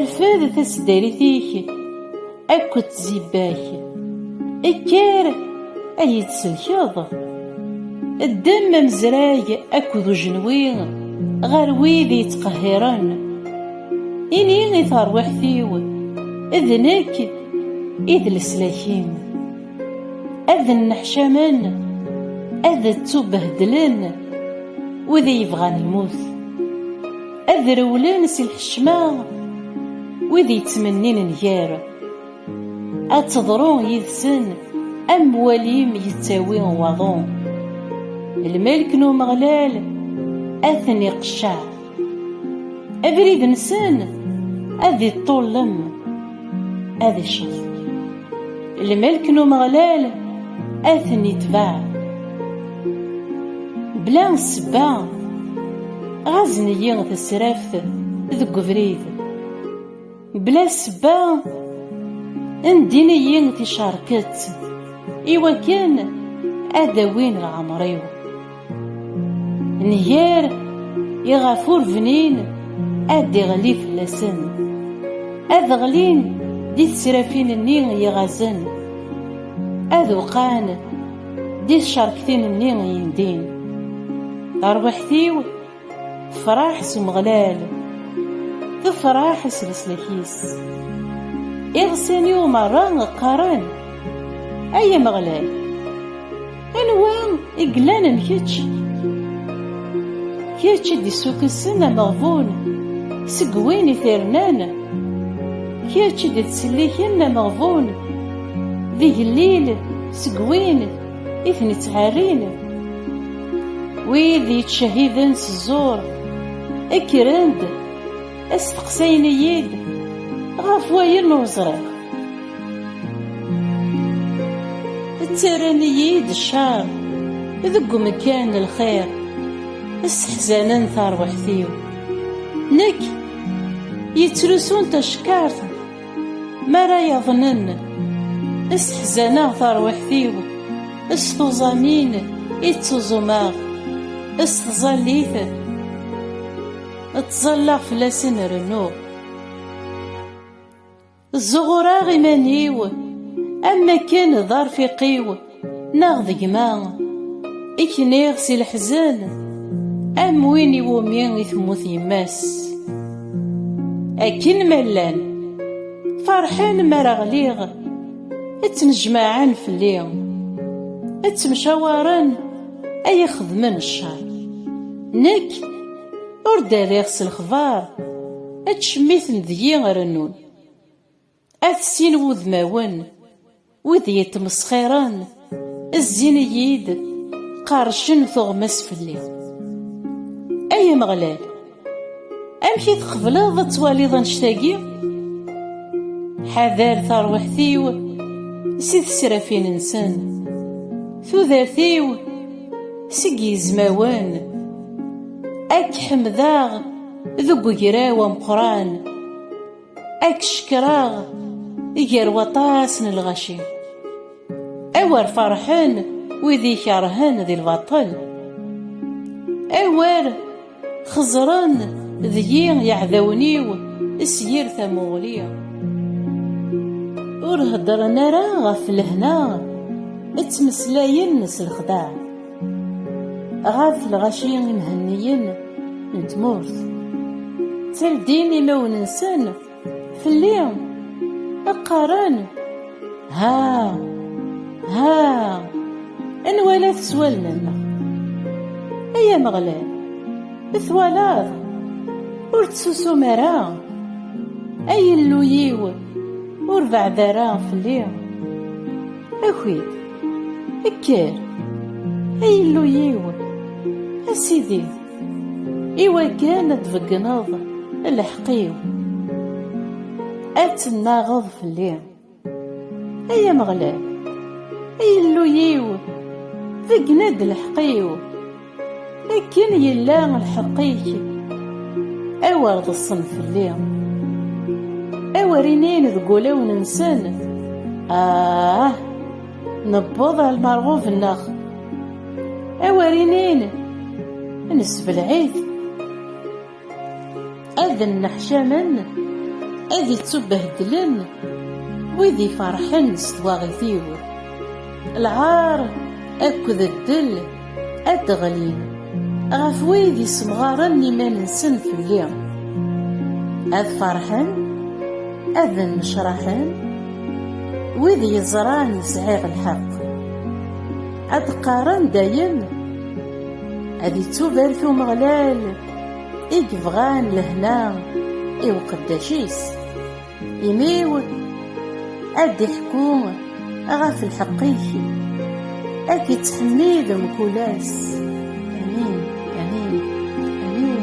Rfed taseddarit-ik akked tzibbak. Ekker ad iyi-tselkeḍ. Ddem amezrag akked ujenwi ɣer wid yettqehhiren. Ini i terwiḥt-iw, d nekk i d leslak-im. Ad nneḥcamen, ad ttubehdlen wid yebɣan lmut. Ad rewlen si lḥecma wid yettmennin nnger, ad teḍru yid-sen am walim yettawi waḍu. Lmelk n Umeɣlal ad ten-iqecceɛ, abrid-nsen ad iṭṭullem. ad iccef lmelk n umeɣlal ad ten-itbeɛ bla ssebba ɣazen-iyi tesraft deg ubrid bla ssebba ndin-iyi ticerket iwakken ad awin leɛmer-iw Nher iɣef ur bnin ad iɣli fell-asen. Ad ɣlin di tesrafin-nni yeɣazen. Ad uqan di tcerktin-nni yendin. Tarwiḥt-iw Tefraḥ s Umeɣlal, tefraḥ s leslak-is. Iɣsan-iw merra qqaren, ay Ameɣlal, anwa i yellan am kečč? Kečč i d-issukesen ameɣbun seg win i t-irnan, kečč i d-ittselliken ameɣbun d igellil seg win i ten-ittɛerrin wid yettcehiden s ẓẓur kkren-d asteqsayen-iyi-d ɣef wayen ur ẓriɣ ttarran-iyi-d ccar deg umekkan n lxir sseḥzanen tarwiḥt-iw nekk yettrusun tacekkart Mi ara yaḍnen s teḥzaneɣ tarwiḥt-iw, s tuẓamin i ttuẓumeɣ, s tẓallit ttẓallaɣ fell-asen rennuɣ. Ẓuɣureɣ iman-iw am wakken d arfiq-iw. Neɣ d gma i kniɣ si leḥzen am win iwumi i temmut yemma-s. Akken ma llan ferḥen mi ara ɣliɣ, ttnejmaɛen fell-i, ttemcawaren ay ixedmen ccer. Nekk ur d-rriɣ s lexbar, acemiten deg-i rennun. At sin wudmawen, wid yettmesxiren, zzin-iyi-d, qerrcen tuɣmas fell-i. Ay Ameɣlal, amek i tqebleḍ ad twaliḍ annect-agi? Ḥader tarwiḥt-iw si tesrafin-nsen, tudert-iw seg yizmawen, ad k-ḥemdeɣ deg ugraw ameqqran. Ad k-cekreɣ gar waṭas n lɣaci Awer farḥen wid ikerhen di lbaṭel Awer xeẓren deg-i yeɛdawen-iw s yir tamuɣli Ur heddren ara ɣef lehna Ttmeslayen s lexdaɛ ɣef lɣaci imhenniyen n tmurt tteldin imawen-nsen fell-i qqaren ha ha anwa la teswalmen ay ameɣlal twalaḍ ur tsusum ara ay illu-yiw ur beɛd ara fell-i aki Kker, ay Illu-yiw, a Sidi, iwakken ad tbegneḍ lḥeqq-iw, ad tennaɣeḍ fell-i. Ay Ameɣlal, ay Illu-yiw, beggen-d lḥeqq-iw. Akken yella lḥeqq-ik, awer ḍeṣṣen fell-i, awer inin deg wulawen-nsen, Ah, newweḍ ar lmerɣub-nneɣ, awer inin, Nessebleɛ-it. ad nneḥcamen ad ittubehdlen wid iferḥen s twaɣit-iw lɛar akked ddel ad d-ɣlin ɣef wid issemɣaren iman-nsen fell-i ad ferḥen ad nnecraḥen wid yeẓran sɛiɣ lḥeqq ad qqaren dayem ad ittubarek umeɣlal i yebɣan lehna i uqeddac-is imiw ad d-iḥku ɣef lḥeqq-ik ad k-ittḥemmid mkul ass amin amin amin